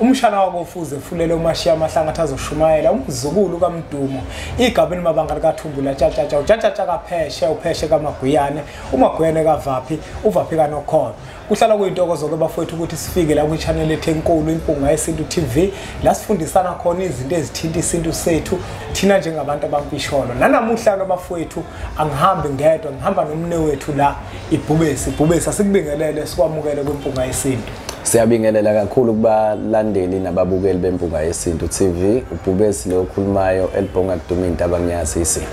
umshana wakofuze efulele umashiya amahlanga athi azoshumayela umzukulu kamdumo igaba elimabanga likathumbula tshatshatsha utshatshatsha kapheshe upheshe kamagwiyane umagwiyane kavaphi uvaphi kanokhona kuhlala kuyintokozo-ke bafowethu ukuthi sifike la kwi-chanel ethu enkulu impunga yesintu tv la sifundisana khona izinto ezithinta isintu sethu thina njengabantu abampisholo nanamuhla-ke bafowethu angihambi ngedwa ngihamba nomne wethu la ibhubesi ibhubesi asikubingelele sikwamukele kwimpunga yesintu Siyabingelela kakhulu kubalandeli nababukeli bempunga yesintu TV ubhubesi lo okhulumayo elibhonga kuduma intaba ngiyazi isimo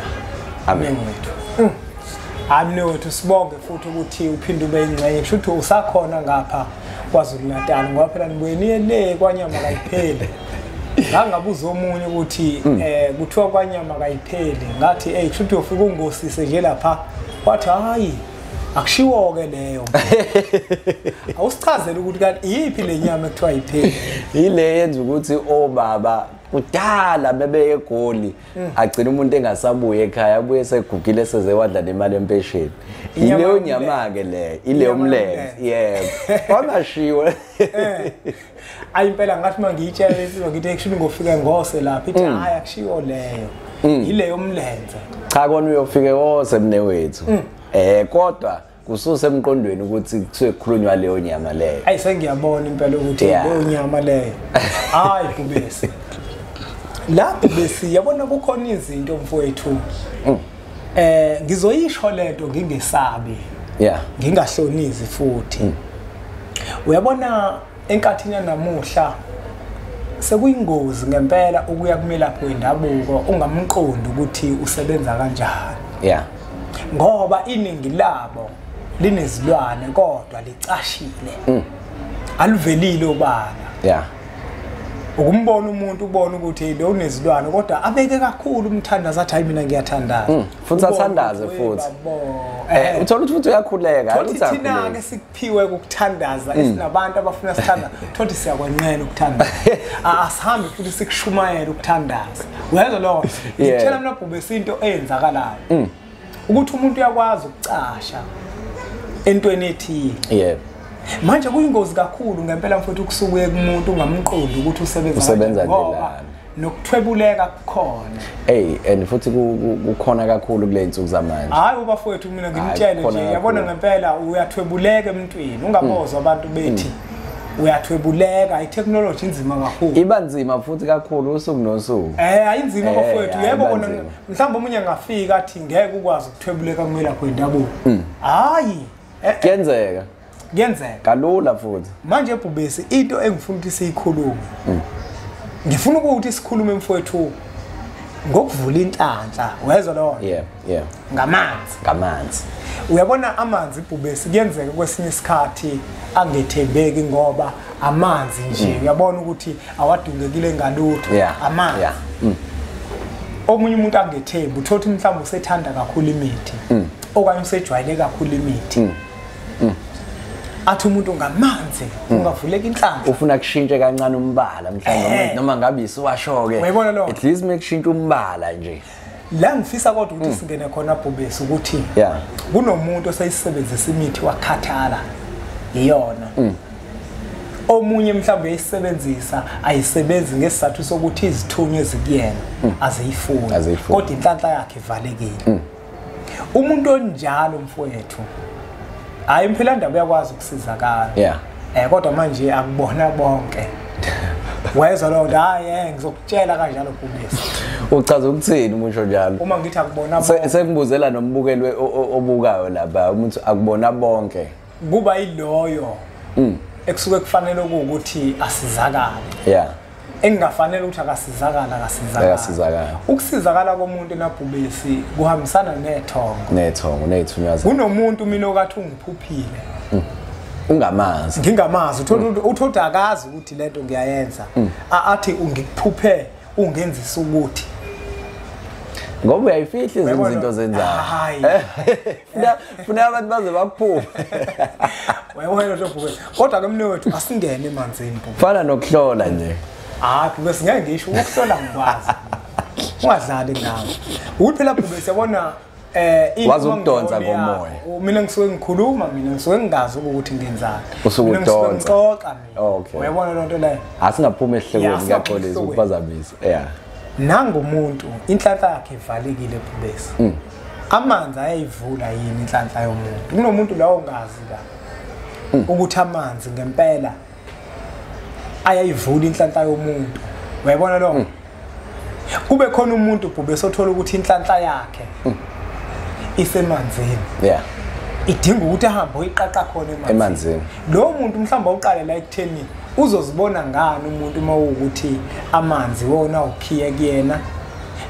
amen wethu mm. amne wethu sibonge futhi ukuthi uphinde ube ingxenye kusho ukuthi usakhona ngapha KwaZulu Natal ngoba phela nibuye niye le kwanyama kayipheli ngangabuza omunye ukuthi mm. eh kuthiwa kwanyama kayipheli ngathi hey kusho ukuthi ufika ungosise nje lapha wathi hayi akushiwo-ke leyo awusichazele ukuthi kanti iyiphi le nyama ekuthiwa yipheli yile yenza ukuthi obaba kudala bebeye egoli mm. agcina umuntu engasabuye ekhaya abuye segugile seze wadla nemali empesheni ileyo nyama-ke leyo ileyo mlenze yebo wangashiwe eh. ayi impela ngathi mangiyitshela lensizwa ngithi actually ngofika ngose lapha ithi mm. hayi akushiwo leyo mm. yileyo mlenze cha kona uyofike wose mne wethu mm. eh kodwa kususe emqondweni ukuthi kusuke kukhulunywa leyo nyama leyo ayi sengiyabona impela ukuthi leyo nyama leyo hayi kubese lapho besi yabona kukhona izinto mfowethu Eh ngizoyisho lento ngingesabi. Yeah. Ngingahlonizi futhi. Mm. Uyabona enkathini yanamuhla sekuyingozi ngempela ukuya kumelaphi wendabuko ungamqondi ukuthi usebenza kanjani. Yeah. Ngoba iningi labo linezilwane kodwa licashile. Mm. Aluvelile ubala. Yeah. ukumbona umuntu ubona ukuthi lo unezilwane kodwa abeke kakhulu umthandaza athi hayi mina ngiyathandaza mm, futhi athandaze futhi eh, eh uthola ukuthi futhi uyakhuleka hayi ukuthi thina ke sikuphiwe ukuthandaza mm. esinabantu abafuna sithanda thothi siyakwenqena ukuthandaza ah, asihambi futhi sikushumayela ukuthandaza wezwa lo ngitshela mina bhubhe isinto eyenzakalayo mm. ukuthi umuntu uyakwazi ukucasha entweni ethile yebo manje kuyingozi kakhulu ngempela mfowethu ukusukuye kumuntu ungamqondi ukuthi usebenza usebenza ngoba nokuthwebuleka kukhona hey and futhi kukhona kakhulu kule nsuku zamanje hayi ubafowethu mina ngimtshele nje yabona ngempela uyathwebuleka emntwini ungabozwa mm. abantu bethi mm. uyathwebuleka itechnology inzima kakhulu iba nzima futhi kakhulu usuku nosuku eh ayinzima eh, bafowethu yebo kona mhlawumbe omunye angafika athi ngeke ukwazi ukuthwebuleka kumela kwendabuko mm. hayi eh, eh. kuyenzeka kuyenzeka kalula futhi manje ebhubesi into engifuna ukuthi siyikhulume mm. ngifuna ukuthi sikhulume mfowethu ngokuvula inhlanhla wezwa lo yeah yeah ngamanzi ngamanzi uyabona amanzi ibhubesi kuyenzeka kwesinye isikhathi angethembeki ngoba amanzi nje mm. uyabona ukuthi awadungekile ngalutho yeah. amanzi yeah. mm. omunye umuntu angethembi uthola ukuthi mhlawumbe usethanda kakhulu imithi mm. okanye usejwayele kakhulu imithi mm. Mm. athi umuntu ngamanzi mm. ungavuleka inhlanhla ufuna kushintshe kancane umbala mhlawumbe eh. noma ngabe isiwasho-ke at least mekushintshe umbala nje la ngifisa kodwa ukuthi mm. singene khona bhubesi ukuthi yeah. kunomuntu oseyisebenzisa imithi wakhathala iyona mm. omunye mhlawumbe uyayisebenzisa ayisebenzi ngesizathu sokuthi izithunywa ezikuyena mm. aziyifuni kodwa inhlanhla yakhe ivalekile mm. umuntu onjalo mfowethu hayi mphela ndaba uyakwazi ukusizakala yeah. Eh kodwa manje akubona bonke. Wayezwa lo nto hayi eh ngizokutshela kanjalo Bhubesi. Uchaza ukuthini umusho njalo? Uma ngithi akubona bonke. Sengibuzela nombukelwe obukayo lapha umuntu akubona bonke. Kuba yiloyo. Mm. Ekusuke kufanele ukuthi asizakale. Yeah. engingafanele ukuthi akasizakala akasizakala ukusizakala komuntu enabhubesi kuhambisana nethongo nethongo neyithunywaza kunomuntu mina okathi ungiphuphile mm. ungamazi ngingamazi uthola mm. uthola akazi ukuthi lento ngiyayenza mm. athi ungikuphuphe ungenzisa ukuthi ngoba uyayifihla izinto zenzayo hayi funeka abantu baze baphume wayewena lobhuke kodwa ke mnewethu asingene emanzini fana nokuhlola nje hayi bhuke singeke ngisho ukuhlola ngikwazi ungadlali ngawo ukuthi phela bhuke siyabona eh wazi ukudonsa komoya mina ngisuke ngikhuluma mina ngisuke ngingazi ukuthi ngenzani usuke udonsa ngixoxa mina okay uyabona lonto leyo asingaphuma ehlekweni ngiyaxolisa ukuphazamisa yeah nangomuntu inhlanhla yakhe ivalekile phubesi mm. amanzi ayayivula yini inhlanhla yomuntu kunomuntu la ongazi la hmm. ukuthi amanzi ngempela ayayivula inhlanhla yomuntu uyayibona lo hmm. kube khona umuntu bhube sothola ukuthi inhlanhla yakhe hmm. isemanzini yeah idinga ukuthi ahambe oyiqaqa khona emanzini lo muntu mhlawumbe uqale la ekutheni uzozibona ngani umuntu uma ukuthi amanzi wona ukhiye kuyena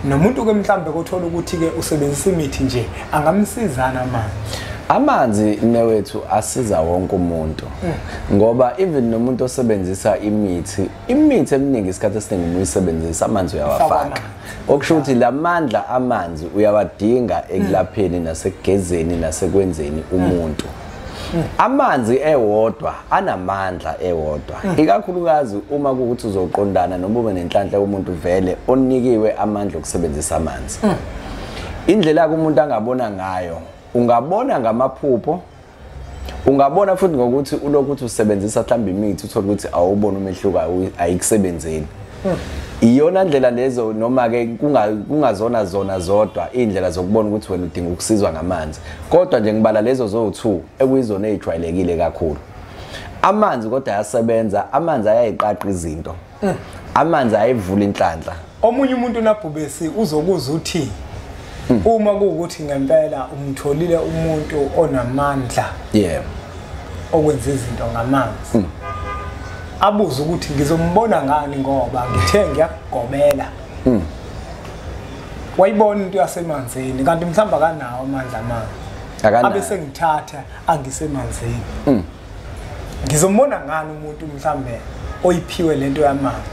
nomuntu ke mhlambe kothola ukuthi ke usebenzisa imithi nje angamsizana manje amanzi newethu asiza wonke umuntu mm. ngoba even nomuntu osebenzisa imithi imithi eminingi isikhathi esiningi uma uyisebenzisa amanzi uyawafaka okusho ukuthi la mandla amanzi uyawadinga ekulapheni mm. nasekugezeni nasekwenzeni umuntu mm. amanzi ewodwa anamandla ewodwa hmm. ikakhulukazi uma kuwukuthi uzoqondana noma ube nenhlanhla yomuntu vele onikiwe amandla okusebenzisa amanzi hmm. indlela yakho umuntu angabona ngayo ungabona ngamaphupho ungabona futhi ngokuthi ulokuthi usebenzisa mhlawumbe imithi uthole ukuthi awubona umehluko ayikusebenzeli iyona ndlela lezo noma ke kungazona zona zodwa indlela zokubona ukuthi wena udinga ukusizwa ngamanzi kodwa nje ngibala lezo zo2 ekuyizona ezijwayelekile kakhulu amanzi kodwa ayasebenza amanzi ayayiqaqa izinto mm. amanzi ayivula inhlanhla omunye umuntu nabhubesi uzokuzwa uthi Hmm. Uma kuwukuthi ngempela umtholile umuntu onamandla. Yeah. Okwenza izinto ngamanzi. Hmm. Abuze ukuthi ngizombona ngani ngoba ngithe ngiyakugobela. Hmm. Wayibona into yasemanzini kanti mhlamba kanawo amandla manje. Akanawo. Abese ngithatha angisemanzini. ngizombona ngani umuntu mhlambe oyiphiwe lento yamanzi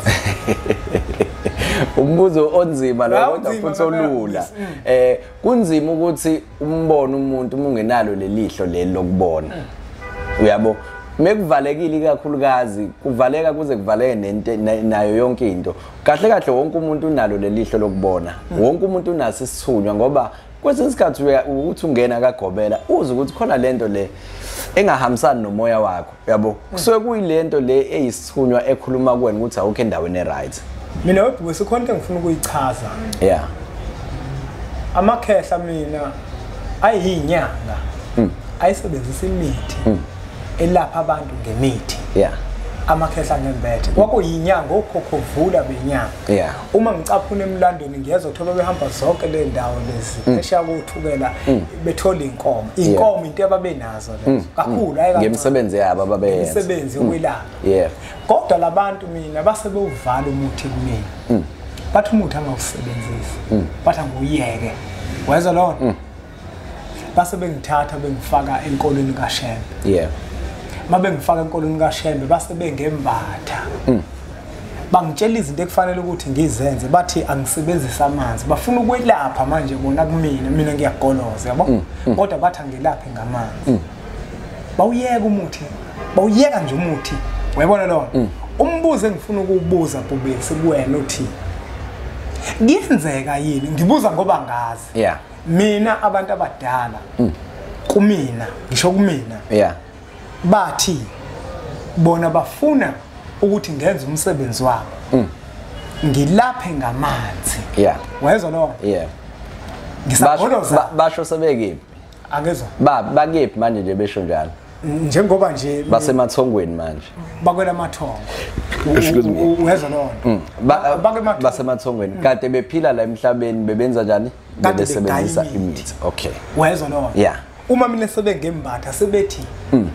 umbuzo onzima lo kodwa futhi olula mm. eh kunzima ukuthi umbone umuntu uma ungenalo lelihlo leli lokubona mm. uyabo mekuvalekile ikakhulukazi kuvaleka kuze kuvaleke nento nayo yonke into kahle kahle wonke umuntu unalo lelihlo lokubona mm. wonke umuntu unaso isithunywa ngoba kwesinye isikhathi ukuthi ungena kagobela uze ukuthi khona lento le engahambisani nomoya wakho yabo kusuke kuyilento le eyisithunywa ekhuluma kuwena ukuthi awukho endaweni eright mina webhuku sikhona into engifuna ukuyichaza ya amakhehla mina ayiyinyanga hmm. ayisebenzisa imithi hmm. elapha abantu ngemithi ya amakhehla ngembethe kwakuyinyanga okhokhovula benyanga yeah uma ngicaphuna emlandweni ngiyeza ukuthi bebehamba zonke le ndawo lezi mm. eshiya kuthukela mm. bethola inkomo inkomo into ababenazo lezo mm. kakhulu hayi ngemisebenzi yabo ababeyenza imisebenzi yokwelapha yeah kodwa labantu mina base bewuvala umuthi kumina bathi umuthi angawusebenzisi bathi anguyeke weza lona base bengithatha bengifaka enkolweni kaShembe yeah uma bengifaka enkolweni kaShembe base bengembatha mm. bangitshela izinto ekufanele ukuthi ngizenze bathi angisebenzise amanzi bafuna ukwelapha manje bona kumina mina ngiyagoloza yabo mm, mm. kodwa bathi angelaphe ngamanzi mm. bawuyeka umuthi bawuyeka nje umuthi uyabona lona mm. umbuzo engifuna ukuwubuza bhubesi kuwena uthi kuyenzeka yini ngibuza ngoba ngazi yeah mina abantu abadala mm. kumina ngisho kumina yeah bathi bona bafuna ukuthi ngenze umsebenzi wabo mm. ngilaphe ngamanzi yeah wayezwa lo yeah ngisagoloza basho sebekephi akezwa ba bakephi manje nje besho njalo njengoba nje basemathongweni manje bakwela mathongo uyezwa lona mm. basemathongweni mm. kade bephila la emhlabeni bebenza njani kade besebenzisa imithi okay wayezwa lowo yeah uma mina sebengembatha sebethi mm.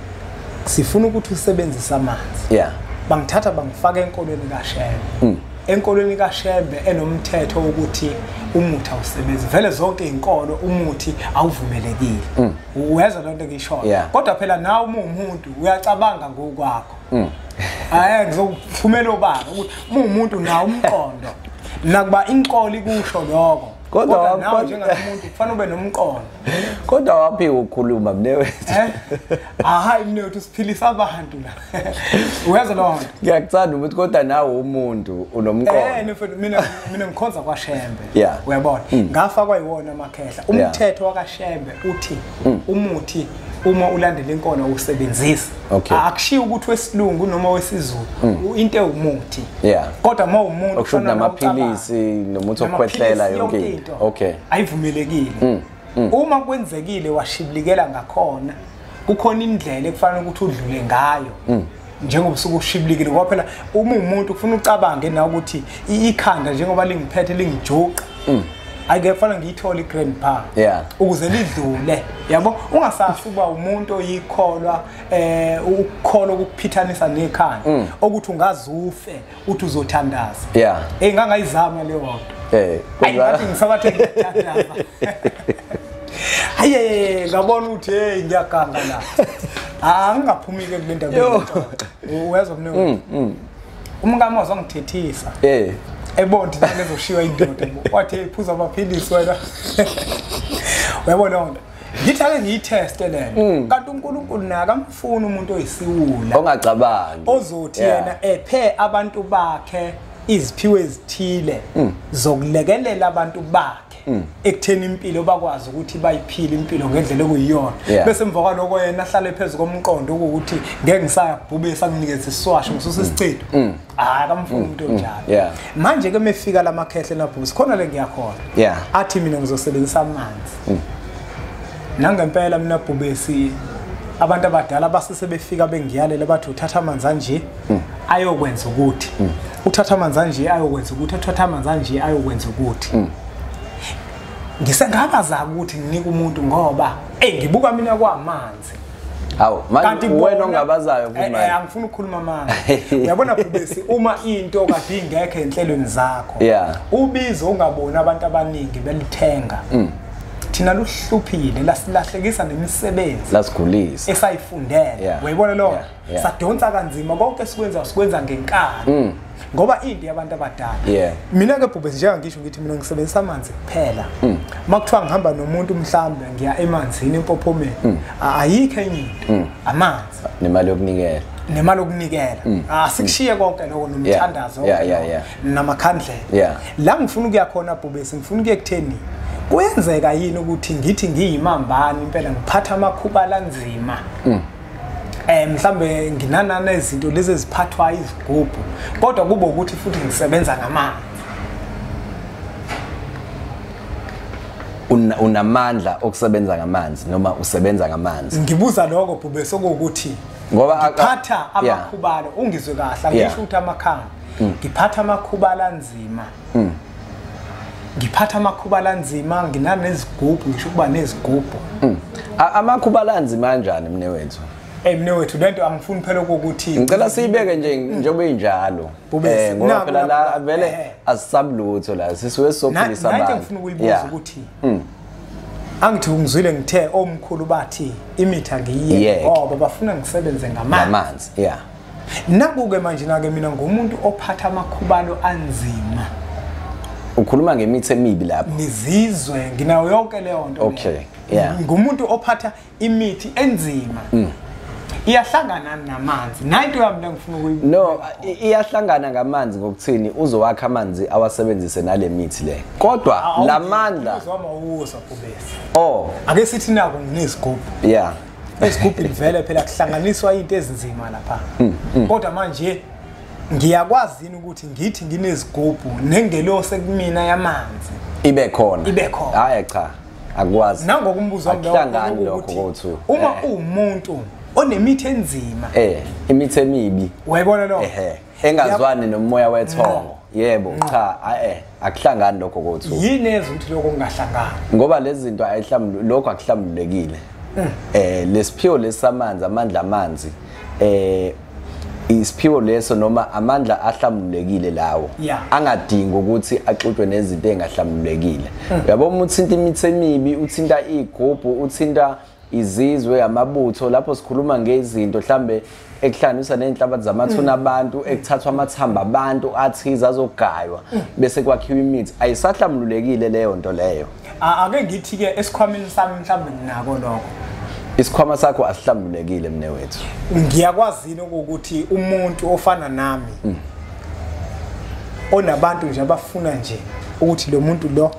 sifuna ukuthi usebenzise amanzi yeah bangithatha bangifaka enkolweni kashembe mm. enkolweni kashembe enomthetho wokuthi umuthi awusebenzi vele zonke izinkolo umuthi awuvumelekile mm. uyeza lonto ngisho kodwa phela nawe uma umuntu uyacabanga ngokwakho Mm. Hayi ngizokuphumela obaba ukuthi muwumuntu nawo umqondo. Nakuba inkolo ikusho lokho. Kodwa nawe njengamuntu kufanele ube nomqondo. Kodwa waphi ukukhuluma mnewethu? Eh? Ah, hayi mnewethu siphilisa abantu la. Uyeza lo nto. Ngiyakuthanda ukuthi kodwa nawe umuntu unomqondo. Eh mfethu mina mina ngikhonza kwaShembe. Uyabona? Mm. Ngafa kwayiwona amakhehla. Umthetho wakaShembe uthi mm. umuthi uma ulandela inkolo usebenzisa okay. akushiya ukuthi wesilungu noma wesizulu mm. into ewumuthi yeah. kodwa uma umuntu okusho namaphilisi nomuthi okukhwehlela yonke into okay ayivumelekile mm. mm. uma kwenzekile washibilikela ngakhona kukhona indlela ekufanele ukuthi udlule ngayo mm. njengoba usuke ushibilikile ngoba phela uma umuntu ufuna ucabange na ukuthi ikhanda njengoba lingiphethe lingijuqa mm. ayike kufana ngiyithole iGrand Bar yeah ukuze lidlule yabo ungasasi uba umuntu oyikholwa eh ukukholwa ukuphithanisa nekhanda mm. ukuthi ungazufe uthi uzothandaza yeah hey ngangayizama leyo nto eh kodwa ngisabathe ngiyathandaza haye ngabona ukuthi hey ngiyaganga la angingaphumile kulendaba yethu uyazwa mina umkami wazongithethisa eh ebonti nalezoshiywa indoda wathi iphuza amaphilisi wena uyabo leyo nto ngithi ake ngiyitheste lena mm. kanti unkulunkulu naye akamfuni umuntu oyisiwula ongacabangi ozothi yena ephe abantu bakhe iziphiwo ezithile mm. zokulekelela abantu bakhe hmm. ekutheni impilo bakwazi ukuthi bayiphile impilo ngendlela okuyiyona bese emva kwaloko yena ahlale phezu komqondo ukuthi ngeke ngisayabhubisa nginikeze isiswasho ngisusa hmm. isicedo hmm. hayi kamfuni umuntu onjalo manje ke mefika la makhehle nabhubisa khona le ngiyakhona athi mina ngizosebenzisa amanzi nangempela mina bhubesi abantu abadala basese befika bengiyalela bathi uthatha amanzi anje hmm. ayokwenza ukuthi hmm. uthatha amanzi anje ayokwenza ukuthi uthatha amanzi anje ayokwenza ukuthi hmm. ngisengabaza ukuthi nginike umuntu ngoba eyi ngibuka mina kwamanzi hawu manje wena ongabazayo eh, kumanje eh, angifuni ukukhuluma manje uyabona bhubesi uma into kade ingekho enhlelweni zakho ubizo ungaboni abantu abaningi belithenga mm. thina luhluphile lasilahlekisa nemisebenzi lasigulisa esayifundele uyayibona loo yeah. sadonsa kanzima konke sikwenza sikwenza ngenkani mm. ngoba into yabantu abadala yeah. mina ke bhubhe njenga ngisho ngithi mina ngisebenzisa amanzi kuphela mm. makuthiwa ngihamba nomuntu mhlawumbe ngiya emanzini empophomeni mm. ayikho enye into mm. amanzi nemali yokunikela nemali okunikela mm. asikushiye ah, mm. konke lokho nomthandazo namakhandlela la ngifuna ukuya khona bhubesi ngifuna ukuye kutheni kuyenzeka yini ukuthi ngithi ngiyimambani impela ngiphatha amakhuba lanzima mm. eh mhlambe nginanana izinto lezi eziphathwa izigubhu kodwa kube ukuthi futhi ngisebenza ngamandla unamandla okusebenza ngamanzi noma usebenza ngamanzi ngibuza lokho bhube sokuthi ngoba aphatha amakhubalo ungizwe kahle angisho ukuthi amakhanda mm. ngiphatha amakhubala anzima Hmm. Ngiphatha amakhuba lanzima nginanezigubhu ngisho ukuba nezigubhu. Hmm. Amakhuba lanzima kanjani mne wethu? Hey mne wethu lento angifuni phela ukuthi ngicela siyibeke nje njengoba injalo. Eh ngoba phela la vele eh, eh. asisabulutho la sisuke sophilisa abantu. Ngithi ngifuna ukuyibuza ukuthi. Hmm. angithi ungizwile ngithe omkhulu bathi imitha ngiyiyeke ngoba bafuna ngisebenze ngamanzi ngamanzi yeah Nakuke manje nake mina ngumuntu ophatha amakhubalo anzima. Ukhuluma ngemithi emibi lapho. Ngizizwe nginayo yonke leyo nto. Okay. Yeah. Ngumuntu ophatha imithi enzima. Mm. iyahlangana namanzi nayinto yami lengifuna ukuyi no iyahlangana ngamanzi ngokuthini uzowakha amanzi awasebenzise nale mithi le kodwa lamandla uzoma uwusa kubese oh ake sithi nako nginezigubhu yeah esigubhini vele phela kuhlanganiswa into ezinzima lapha mm, mm. kodwa manje ngiyakwazi yini ukuthi ngithi nginezigubhu nengelose kumina yamanzi ibe khona ibe khona hayi cha akwazi nangokumbuzo akuhlangani lokho kothu uma eh. uwumuntu onemithi enzima eh imithi emibi wayibona lo ehe engazwani nomoya wethongo yebo cha ae akuhlangani lokho kothu yini ezo ukuthi lokho kungahlangani ngoba lezi zinto ayihlambulu lokho akuhlambulekile mm. eh lesiphiwo lesamanzi amandla amanzi eh isiphiwo leso noma amandla ahlambulekile lawo angadingi ukuthi axutshwe nezinto engahlambulekile mm. yabo uma uthinta imithi emibi uthinta igubhu uthinta izizwe amabutho lapho sikhuluma ngezinto mhlambe ekuhlanganisa nezinhlabathi zamathuna mm. abantu ekuthathwa amathamba abantu athize azogaywa mm. bese kwakhiwa imithi ayisahlamlulekile leyo nto leyo ake ngithi ke esikhwameni sami mhlambe nginako lokho isikhwama sakho asihlambulekile mne wethu ngiyakwazini ukuthi umuntu ofana nami mm. onabantu nje abafuna nje ukuthi lo muntu lo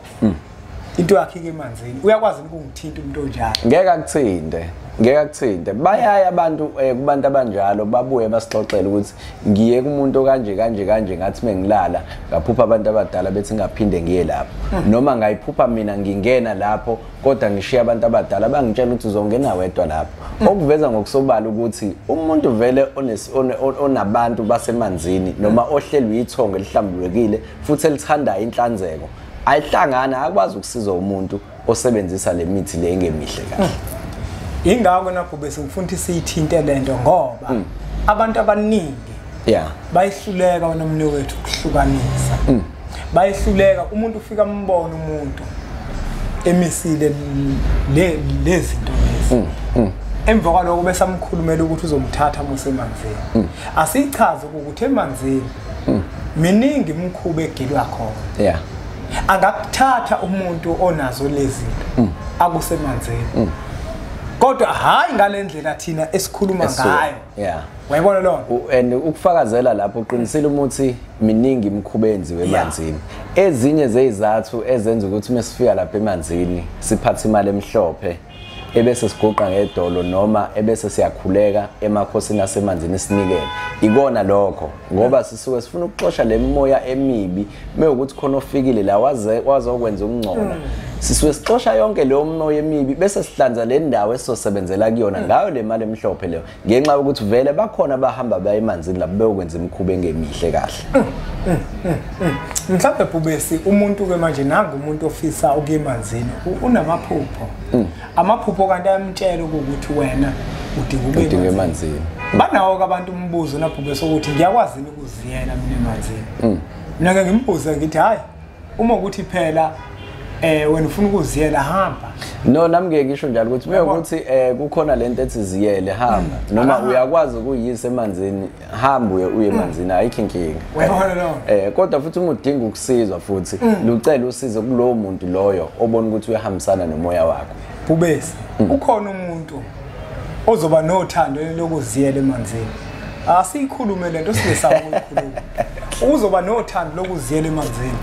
into yakhe ke emanzini uyakwazi ukungithinta umuntu onjalo ngeke akuthinte ngeke akuthinte bayaya abantu eh, kubantu abanjalo babuye basixoxele ukuthi ngiye kumuntu kanje kanje kanje ngathi mengilala ngaphupha abantu abadala bethi ngaphinde ngiye lapho hmm. noma ngayiphupha mina ngingena lapho kodwa ngishiya abantu abadala bangitshela ukuthi uzongena wedwa lapho hmm. okuveza ngokusobala ukuthi umuntu vele onabantu basemanzini noma hmm. ohlelwe ithongo elihlambulukile futhi elithandayo inhlanzeko ayihlangani akwazi ukusiza umuntu osebenzisa le mithi le engemihle kahle hmm. ingakho nakho bese ngifuna ukuthi siyithinte le nto ngoba hmm. abantu abaningi yeah bayihluleka wena mne wethu ukuhlukanisa hmm. bayihluleka umuntu ufika ambone umuntu emisile le lezinto lezi emva kwaloko bese amkhulumela ukuthi uzomthatha musemanzini asichaze ukuthi emanzini hmm. miningi imikhuba egilwa khona yeah angakuthatha umuntu onazo lezinto mm. akusemanzini mm. kodwa hayi ngalendlela thina esikhuluma ngayo yeah wayibona lo and ukufakazela lapho uqinisile umuthi miningi imikhuba enziwe emanzini ezinye zezizathu ezenza ukuthi mesifika lapha emanzini siphathe imali emhlophe ebese siguqa ngedolo noma ebese siyakhuleka emakhosini asemanzini sinikele ikona lokho ngoba sisuke sifuna ukuxosha le mimoya emibi mewukuthi khona ofikile la waze wazokwenza ukungcola mm. sisuke sixosha yonke leyo mimoya emibi bese sihlanza le ndawo esizosebenzela kuyona mm. ngayo le mali emhlophe leyo ngenxa yokuthi vele bakhona abahamba baye emanzini lapho beyokwenza imikhuba engemihle kahle mm, mm, mm, mhlawumbe bhubesi umuntu-ke manje nangumuntu ofisa ukuya emanzini unamaphupho amaphupho kanti ayamtshela ukuthi wena udinga emanzini banawo-ke abantu umbuzo nabhubesi ukuthi ngiyakwazi yini ukuziyela mina emanzini mina-ke ngimbuze ngithi hhayi uma ukuthi phela eh wena ufuna ukuziyela hamba no nami ngeke ngisho njalo ukuthi uma ukuthi eh kukhona lento ethi ziyele hamba hmm. noma uyakwazi ukuyisa emanzini hamba uye uye hmm. emanzini ayikho inkinga uyabona lo eh kodwa futhi uma udinga ukusizwa futhi hmm. lucela usizo kulowo muntu loyo obona ukuthi uyahambisana nomoya wakho bubesi ukhona umuntu ozoba nothando lokuziyela emanzini asiyikhulume lento singesaba ukuyikhuluma uzoba nothando lokuziyela emanzini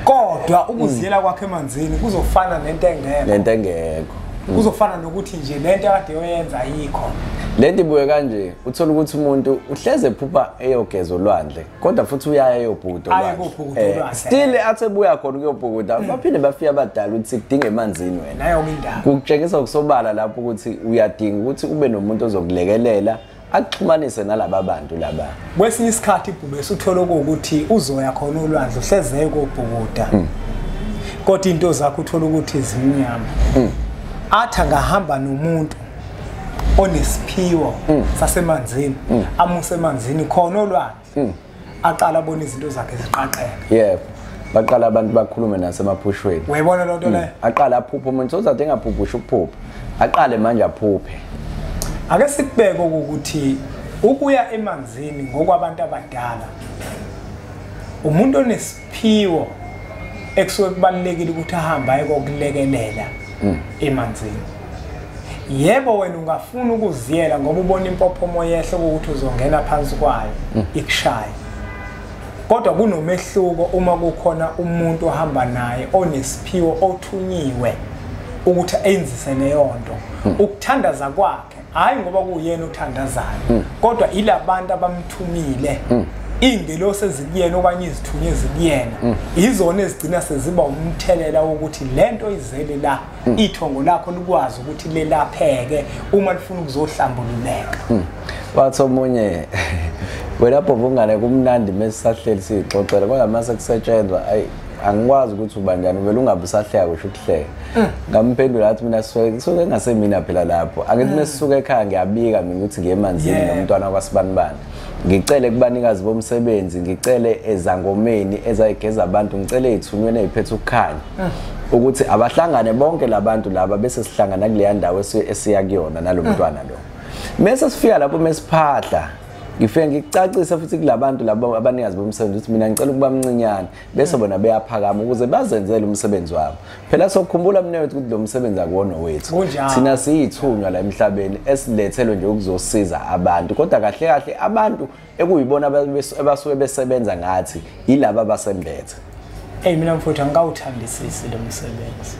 kodwa ukuziyela mm. kwakhe emanzini kuzofana nento engekho nento engekho mm. kuzofana nokuthi nje lento akade yoyenza ayikho lento ibuye kanje uthola ukuthi umuntu uhleze phupha eyogeza olwandle kodwa futhi uyaya eyobhuda eh, still athi ebuya khona ukuyobhukuda hmm. baphinde bafike abadala ukuthi kudinga emanzini wena kukutshengisa kusobala lapho ukuthi uyadinga ukuthi ube nomuntu ozokulekelela akuxhumanise nalaba bantu laba kwesinye isikhathi ibhubesi uthole ukuthi uzoya khona olwandle uhlezeye kobhukuda hmm. kodwa into zakho uthole ukuthi zimnyama hmm. athi angahamba nomuntu onesiphiwo mm. sasemanzini mm. amuse emanzini khona olwandle mm. aqala abona izinto zakhe ziqaqeka yebo baqala abantu bakhulume nasemaphushweni uyayibona loo nto leyo aqala aphuphe umuntu sozade engaphuphi usho ukuphupha aqale manje aphuphe ake sikubeke ukuthi ukuya emanzini ngokwabantu abadala umuntu ones Phiwo ekusuke kubalulekile ukuthi ahambe aye kokulekelela hmm. emanzini. Yebo wena ungafuna ukuziyela ngoba ubona impophomo yehle ukuthi uzongena phansi kwayo hmm. ikushaye. Kodwa kunomehluko uma kukhona umuntu ohamba naye onesiphiwo othunyiwe ukuthi enzise leyo nto. Hmm. Ukuthandaza kwakhe hayi ngoba kuyena othandazayo mm. kodwa ilabantu abamthumile mm. iingelosi ezikuyena okanye izithunywa ezikuyena mm. izona ezigcina seziba umthelela wokuthi le nto izele la mm. ithongo lakho likwazi ukuthi lelapheke uma lifuna ukuzohlambululeka mm. wathi omunye wena bhobungane kumnandi mesisahleli siyixoxela kodwa mase kusetshenzwa ayi angikwazi ukuthi ubanjani vele ungabe usahleka kusho ukuhleka mm. ngamphendula athi mina suke ngasemina phela lapho angithi mm. mesisuka ekhaya ngiyabika mina ukuthi ngiye emanzini nomntwana kwasibanibani ngicele kubanikazi bomsebenzi ngicele ezangomeni ezayigeza abantu ngicele izithunyweni eziphethe ukukhanya mm. ukuthi abahlangane bonke labantu laba bese sihlangana kuleya ndawo esiya kuyona nalomntwana lo mese sifika lapho mesiphahla ngifike ngikucacisa futhi kulabantu labo abanikazi bomsebenzi ukuthi mina ngicela ukuba mncinyane bese bona beyaphakama ukuze bazenzele umsebenzi wabo phela sokukhumbula mnewethu ukuthi lo msebenzi akuwona wethu thina siyithunywa la emhlabeni esilethelwe nje ukuzosiza abantu kodwa kahle kahle abantu ekuyibona abasuke besebenza ngathi yilaba abasembethe hey mina mfuthu angikawuthandisisi lo msebenzi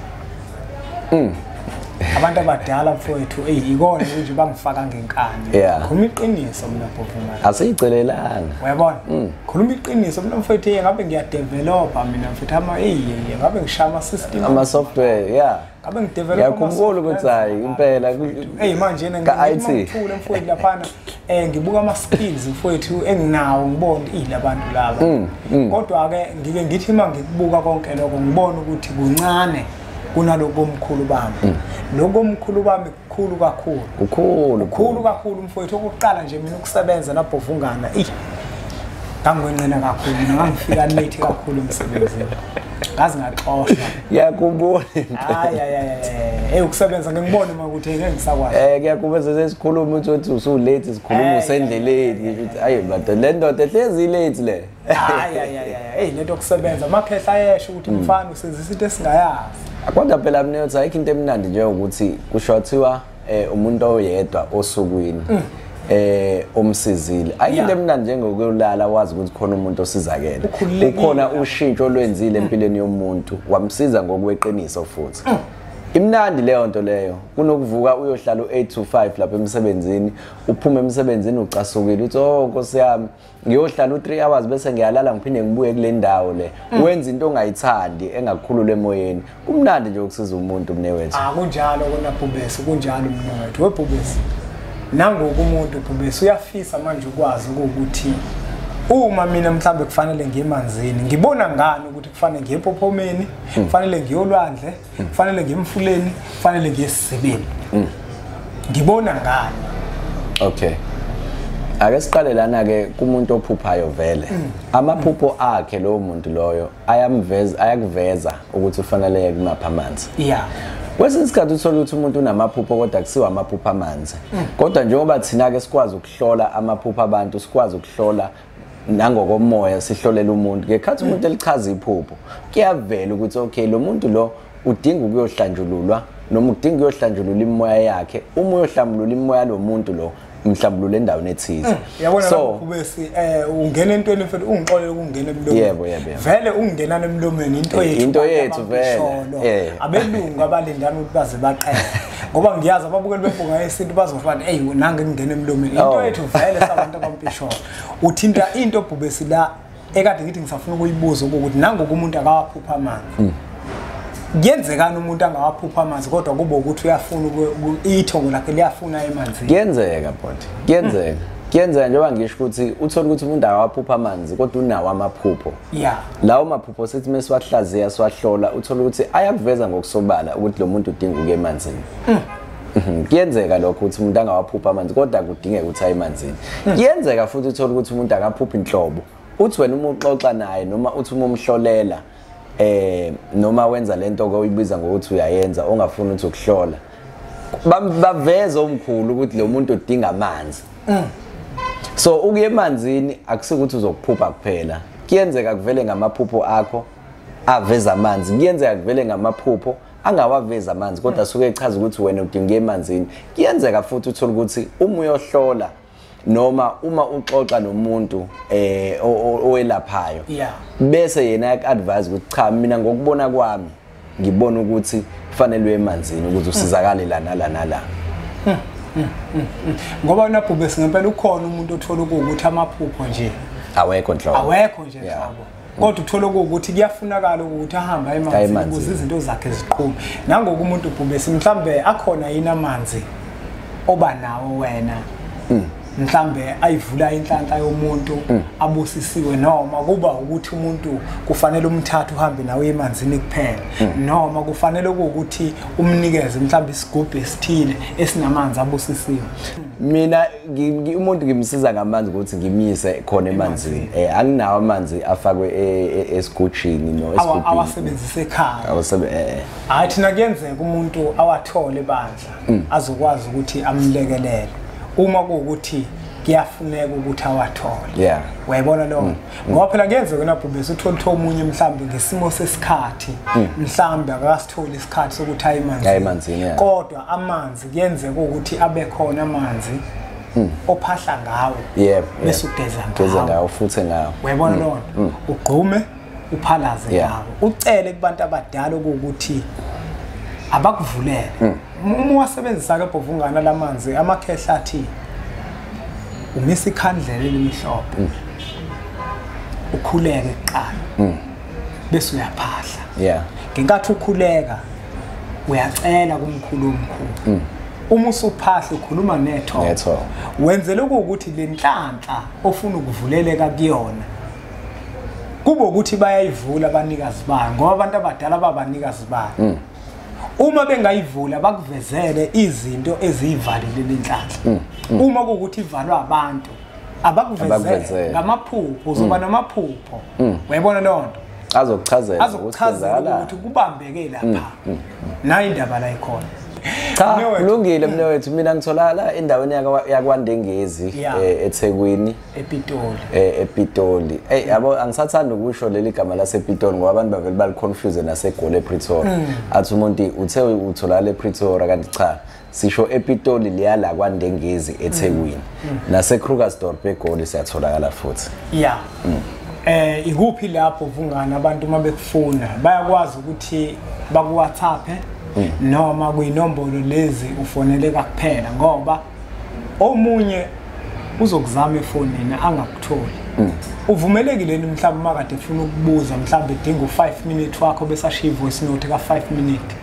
mm. abantu abadala mfowethu eyi yikona ukuthi bangifaka ngenkani khuluma iqiniso mina bhofumana asiyicelelanga uyabona mm. khuluma iqiniso mina mfowethu ngabe ngiyadevelopha mina mfowethu ama eyi ngabe ngishaya ama-system ama-software ya yeah. ngabe ngidevelop ngiyakhumbula ukuthi hayi impela hey manje yena ngithule mfowethu laphana eh ngibuka ama skills mfowethu enginawo ngibona ilabantu laba mm, mm. kodwa ke ngike ngithi uma ngikubuka konke lokho ngibona ukuthi kuncane kunalokomkhulu bami mm. lokomkhulu bami khulu kakhulu kukhulu khulu kakhulu umfowethu okuqala nje mina ukusebenza nabhovungana ey ngangwenqena kakhulu mina ngangifika late kakhulu emsebenzini ngazi ngaxoshwa ngiyakubona hayi hayi hayi eh ukusebenza ngikubone uma ukuthi ngeke ngisakwazi eh ngiyakubeza sesikhuluma ukuthi uthi usu late sikhuluma usendleleni ukuthi ayi ndoda le ndoda ehlezi late le hayi hayi hayi hey lento kusebenza amakhehla ayesho ukuthi hmm. mfana usenzisa into esingayazi kodwa phela mina uthi ayikho into emnandi nje ukuthi kusho wathiwa eh, umuntu oyedwa osukwini hmm. eh omsizile ayikho into emnandi njengokulala wazi ukuthi khona umuntu osizakele ukhona ushintsho olwenzile hmm. empilweni yomuntu wamsiza ngokweqiniso futhi imnandi leyo nto leyo kunokuvuka uyohlala u-8 to 5 lapha emsebenzini uphume emsebenzini ucasukile uthi oh nkosi yami ngiyohlala u-three hours bese ngiyalala ngiphinde ngibuye kule ndawo le mm. wenza into ongayithandi engakukhulula emoyeni kumnandi nje ukusiza umuntu mne wethu ah, kunjalo kona bhubesi kunjalo mne wethu webhubesi nangoku umuntu bhubesi uyafisa manje ukwazi ukuthi uma mina mhlawumbe kufanele ngiye emanzini ngibona ngani ukuthi kufanele ngiye empophomeni hmm. kufanele ngiyolwandle kufanele ngiye emfuleni kufanele ngiye esisebeni mm. ngibona ngani okay ake siqale lana ke kumuntu ophuphayo vele mm. amaphupho akhe lowo muntu loyo ayamveza ayakuveza ukuthi ufanele yeke kumapha amanzi yeah kwesinye isikhathi uthole ukuthi umuntu unamaphupho kodwa kusiwa amaphupho amanzi mm. kodwa njengoba thina-ke sikwazi ukuhlola amaphupho abantu sikwazi ukuhlola nangokomoya sihlolela umuntu ngekhathi umuntu elichaza iphupho kuyavela ukuthi okay lo muntu lo udinga ukuyohlanjululwa noma udinga ukuyohlanjulula imoya yakhe uma uyohlambulula imoya lo muntu lo mhlambulule endaweni ethize mm, so kubesi eh ungena entweni mfethu ungixolele ukungena emlomeni yebo yebo vele ungenana emlomeni into eh, yethu into yethu vele eh. abelungu abalindana ukuthi baze baqele ngoba ngiyazi ababukeli bebhunga yesintu bazofana eyi nange ngingena emlomeni into oh. yethu vele sabantu abampisholo uthinta into obhubesi la ekade ngithi ngisafuna ukuyibuza ukuthi nangoku umuntu akawaphupha amanzi hmm. kuyenzekani umuntu angawaphupha amanzi kodwa kube ukuthi uyafuna ithongo lakhe liyafuna emanzini kuyenzeka bonti kuyenzeka hmm. kuyenzeka njengoba ngisho ukuthi uthole ukuthi umuntu akawaphupha amanzi kodwa unawo amaphupho yeah lawo maphupho sithi mesiwahlaziya siwahlola uthola ukuthi ayakuveza ngokusobala ukuthi lo muntu udinga ukuya emanzini mm. Mhm. kuyenzeka lokho ukuthi umuntu angawaphupha amanzi kodwa kudingeka ukuthi aye emanzini mhm. kuyenzeka futhi uthole ukuthi umuntu akaphuphi inhlobo uthi wena uma uxoxa naye noma uthi uma umhlolela eh noma wenza lento ke uyibiza ngokuthi uyayenza ongafuni ukuthi ukuhlola baveza omkhulu ukuthi lo muntu udinga amanzi mm. so ukuya emanzini akusikuthi uzokuphupha kuphela kuyenzeka kuvele ngamaphupho akho aveza amanzi kuyenzeka kuvele ngamaphupho angawavezi amanzi kodwa mm. suke echaza ukuthi wena udinga emanzini kuyenzeka futhi uthole ukuthi uma uyohlola noma uma uxoxa nomuntu eh owelaphayo bese yena advise ukuthi cha mina ngokubona kwami ngibona ukuthi kufanele uye emanzini ukuze usizakale la nala nala ngoba nabhube singempela ukhona umuntu othola ukuthi amaphupho nje awekho nhlobo awekho nje nhlobo kodwa uthole ukuthi kuyafunakala ukuthi ahambe emanzini ukuze izinto zakhe ziqhume nangoku umuntu ubhubesi mhlambe akhona yini amanzi oba nawo wena hmm. mhlambe ayivula inhlanhla yomuntu mm. abusisiwe noma kuba ukuthi umuntu kufanele umthathe uhambe nawe emanzini kuphela mm. noma kufanele ukuthi umnikeze mhlambe isigubhu esithile esinamanzi abusisiwe mina umuntu ngimsiza ngamanzi ukuthi ngimyise khona emanzini eh anginawo amanzi afakwe e, e, esigujini no esigubhini awasebenzise ekhaya awasebenzise eh, eh. hayi thina kuyenzeka umuntu awathole bandla mm. azokwazi ukuthi amlekelele uma kuwukuthi kuyafuneka ukuthi awathole yeah wayibona lo mm. ngoba phela kuyenzeka yona bhubesi uthole utho omunye mhlambe ngesimo sesikhathi mm. mhlambe akasitholi isikhathi sokuthi ayi manzi ayi manzi yeah kodwa amanzi kuyenzeka ukuthi abe khona amanzi mm. ophahla ngawo yebo bese ugeza ngawo futhi ngawo wayibona lo ugqume uphalaze yeah. nawo ucele kubantu abadala ukuthi abakuvulele hmm. uma wasebenzisa ke bhovungana lamanzi amakhehla athi umisa ikhandlela elimhlophe hmm. ukhuleke kuqala hmm. bese uyaphahla yeah ngenkathi ukhuleka uyacela kumkhulu omkhulu uma usuphahla ukhuluma netho wenzele ukuthi lenhlanhla ofuna ukuvuleleka kuyona kube ukuthi bayayivula abanikazi bayo ngoba abantu abadala babanikazi bayo mm. uma bengayivula bakuvezele izinto eziyivalile lenhlanhla mm, mm. uma kuwukuthi ivalwa abantu abakuvezele ngamaphupho uzoba namaphupho uyayibona leyo nto azokuchazela azokuchazela ukuthi kubambeke lapha nayo indaba la ikhona cha kulungile mnewethu mina ngitholakala endaweni yakwandengezi eh, ethekwini ePitoli eh ePitoli hey yabo angisathanda ukusho leli gama lasePitoli ngoba abantu bavele baliconfuse naseGoli ePretoria mm. athi umuntu uthe utholakala ePretoria kanti cha sisho ePitoli liyala kwaNdengezi eThekwini mm. mm. naseKrugersdorp eGoli siyatholakala futhi yeah mm. eh ikuphi lapho vungana abantu uma bekufuna bayakwazi ukuthi bakuwhatsappe mm. noma kuyinombolo lezi ufoneleka kuphela ngoba omunye uzokuzama efonini angakutholi mm. uvumelekile ni mhlawumbe uma kade efuna ukubuza mhlawumbe edinga u-five minute wakho besashiya ivoice note ka-five minute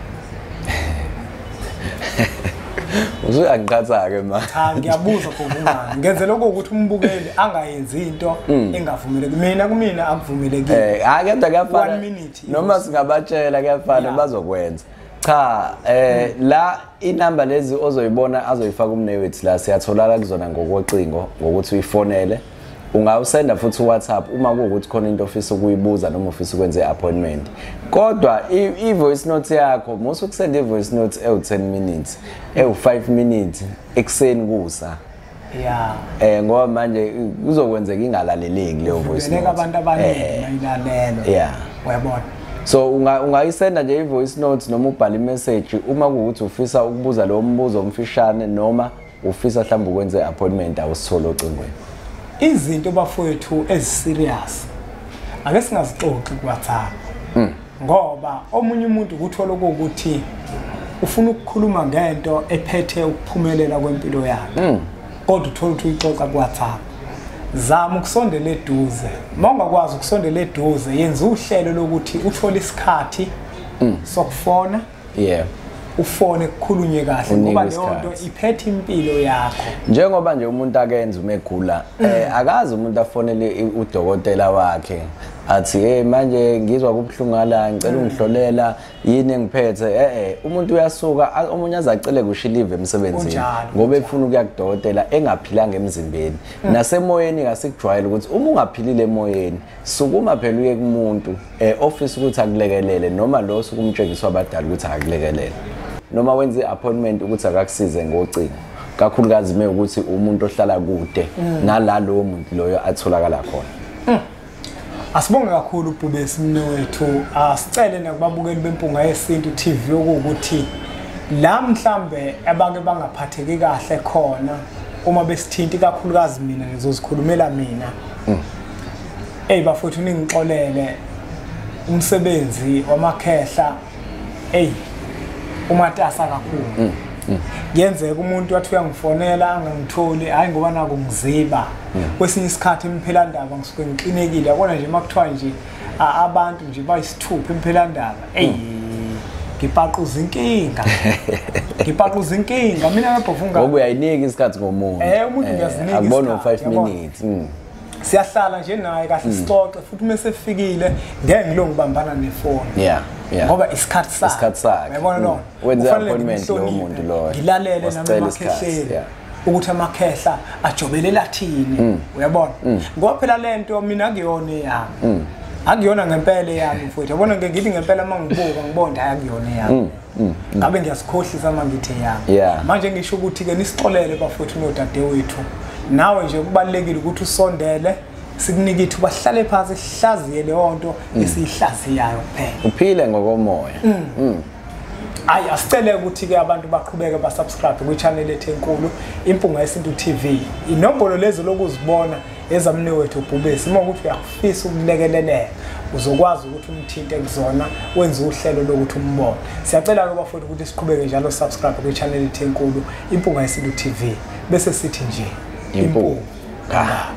usuyangiqhatha-ke ma cha ngiyabuza kuvumani ngenzela okuwukuthi umbukeli angayenzi into hmm. engavumeleki mina kumina akuvumelekile eh, hayi kodwa kuyafana noma singabatshela kuyafana bazokwenza cha eh hmm. la inamba lezi ozoyibona azoyifaka umnewethu la siyatholaka kuzona ngokocingo ngokuthi uyifonele ungawusenda futhi uwhatsapp uma kuwukuthi khona into ofisa ukuyibuza noma ufisa ukwenza i-appointment kodwa i-voice note yakho musa ukusenda i-voice note ewu-10 minutes ewu-5 minutes ekuseni kusa yeah eh ngoba manje kuzokwenzeka ingalaleleki leyo voice note abantu abaningi eh. mayilalelo yeah uyabona so ungayisenda nje i-voice note noma ubhale imessage uma kuwukuthi ufisa ukubuza lowo mbuzo omfishane noma ufisa mhlawumbe ukwenza i-appointment awusithole ocingweni izinto bafowethu eziserious ake singazixoxi kuwhatsapp mm. ngoba omunye umuntu ukuthola ukuthi ufuna ukukhuluma ngento ephethe ukuphumelela kwempilo yakhe mm. kodwa uthola ukuthi uyixoxa kuwhatsapp zama ukusondela eduze uma ungakwazi ukusondela eduze yenza uhlelo lokuthi uthole isikhathi mm. sokufona yeah ufone kukhulunywe kahle ngoba leyo nto iphethe impilo yakho njengoba nje umuntu akenza uma egula mm. eh, akazi umuntu afonele udokotela wakhe athi hey manje ngizwa kubuhlungu ala ngicela mm. ungihlolela yini engiphethe eh eh umuntu uyasuka omunye azacele kusho live emsebenzini ngoba efuna ukuya kudokotela engaphilanga emzimbeni mm. nasemoyeni kasikujwayele ukuthi uma ungaphilile emoyeni sukuma phela uye kumuntu um eh, ofisa ukuthi akulekelele noma lo osuke umtshengiswa abadala ukuthi akakulekelele noma wenza i-appointment ukuthi akakusize ngocingo kakhulukazi me ukuthi umuntu ohlala kude mm. nala lowo muntu loyo atholakala khona mm. asibonge kakhulu ubhubesi mne wethu asicele nakubabukeli bempunga yesintu tv okuwukuthi la mhlambe abake bangaphatheki kahle khona uma besithinti kakhulukazi mina ngizozikhulumela mina mm. Hey bafowethu ningixolele umsebenzi wamakhehla hey umatasa kakhulu mm, mm. kuyenzeka umuntu wathi uyangifonela angangitholi hayi ngoba naku ngiziba mm. kwesinye isikhathi imphelandaba ngisuke ngixinekile yabona nje uma kuthiwa nje abantu nje bayisithupha imphelandaba eyi ngipaquza inkinga ngipaquza inkinga mina nabhofunga ngoba uyayinika isikhathi ngomuntu eh umuntu eh, ngiyazinika akubona 5 minutes siyahlala nje naye kahle mm. sixoxe futhi uma sefikile ngeke ngilo ngibambana nefoni yeah yeah ngoba isikhathi sakhe isikhathi sakhe uyabona mm. lo wenza appointment lo muntu lo ngilalele nami makhehleli ukuthi amakhehla ajobele lathini mm. uyabona mm. ngoba phela lento mina kuyona yami akuyona ngempela yami mfowethu yabona ngithi ngempela uma ngibuka ngibonda akuyona yami Mm, mm. ngabe ngiyasikhohlisa uma ngithe ya manje ngisho ukuthi-ke nisixolele bafowethu nodadewethu nawe nje kubalulekile ukuthi usondele sikunike ithu bahlale phansi sihlaziye leyo nto mm. esiyihlaziyayo kuphela uphile ngokomoya hayi asicele ukuthi-ke abantu baqhubeke basubscribe kwi-channel ethu enkulu impunga yesintu tv inombolo lezi lokuzibona ezamni wethu ubhubesi uma ukuthi uyakufisa ukulekeleleka uzokwazi ukuthi umthinte kuzona wenze uhlelo lokuthi umbone siyacela ke bafowethu ukuthi siqhubeke njalo subscribe kwi-channel ethu enkulu impunga yesilu tv bese sithi nje impunga